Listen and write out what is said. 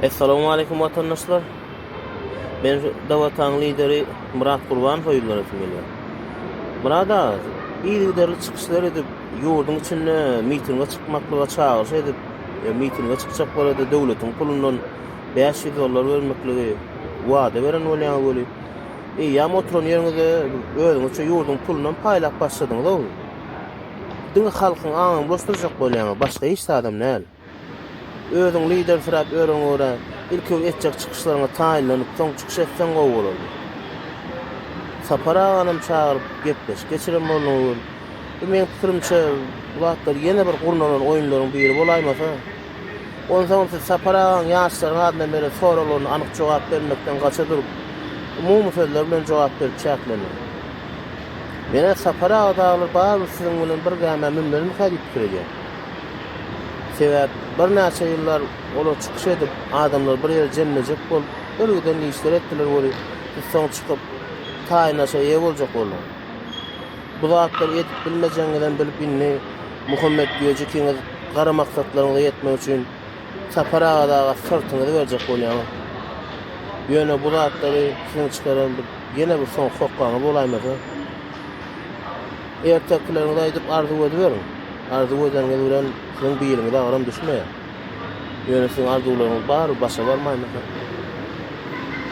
Essalamu Aleýkum Watandaşlar! Men şu Dawataň lideri Myrat Gurbanowa ýüz beresim gelýär. Myrat aga, yzygiderli çykyşlar edip, ýurduň içinde mitinge çykmaklyga çagyryş edip, mitinge çykjaklara-da döwletiň pulundan bäş ýüz dollar bermekligi wada beren bolýaňyz weli, eýýäm oturan ýeriňizde özüňizçe ýurduň pulunam paýlap başladyňyz-ow. Diňe halkyň aňyny bulaşdyrjak bolýaňyz, başga hiç zadam däl. Özüň lidersirap ýörüň görä, ilki etjek çykyşlaryňa taýynlanyp, soň çykyş etseň gowy bolardy. Sapar aganam çagyryp, gepleşik geçiren bolduň öwül. Bu meň pikirimçe, bu zatlar ýene bir gurnalan oýunlaryň biri bolaýmasa? Onsoňam siz Sapar agaň ýaşlaryň adyndan beren soraglaryna anyk jogap bermekden gaça durup, umumy sözler bilen jogap berip çäklendiň. Men-ä Sapar aga dagylar barybir siziň bilen bir gämä münmelikä diýip pikir edýän. Sebäp birnäçe ýyllar olar çykyş edip, adamlar bir ýere jemlejek bolup, birgiden işler etdiler weli, biz soň çykyp, taýynlaşa eýe boljak bolduk. Bu zatlary edip bilmejegiňizem bilip indi Muhammet diýýä jikiňiz gara maksatlaryňyza ýetmek üçin Sapar aga daga syrtyňyzy berjek bolýaňyz. Ýöne bu zatlary siziň çykaran bir ýene bir soňky hokgaňyz bolaýmasa. Ertekileriňizi aýdyp arzuw ediberiň. Arzuw edeniňiz bilen siziň biliňize agram düşmeýär. Ýöne siziň arzuwlaryňyz bar, başa barmaýmyka?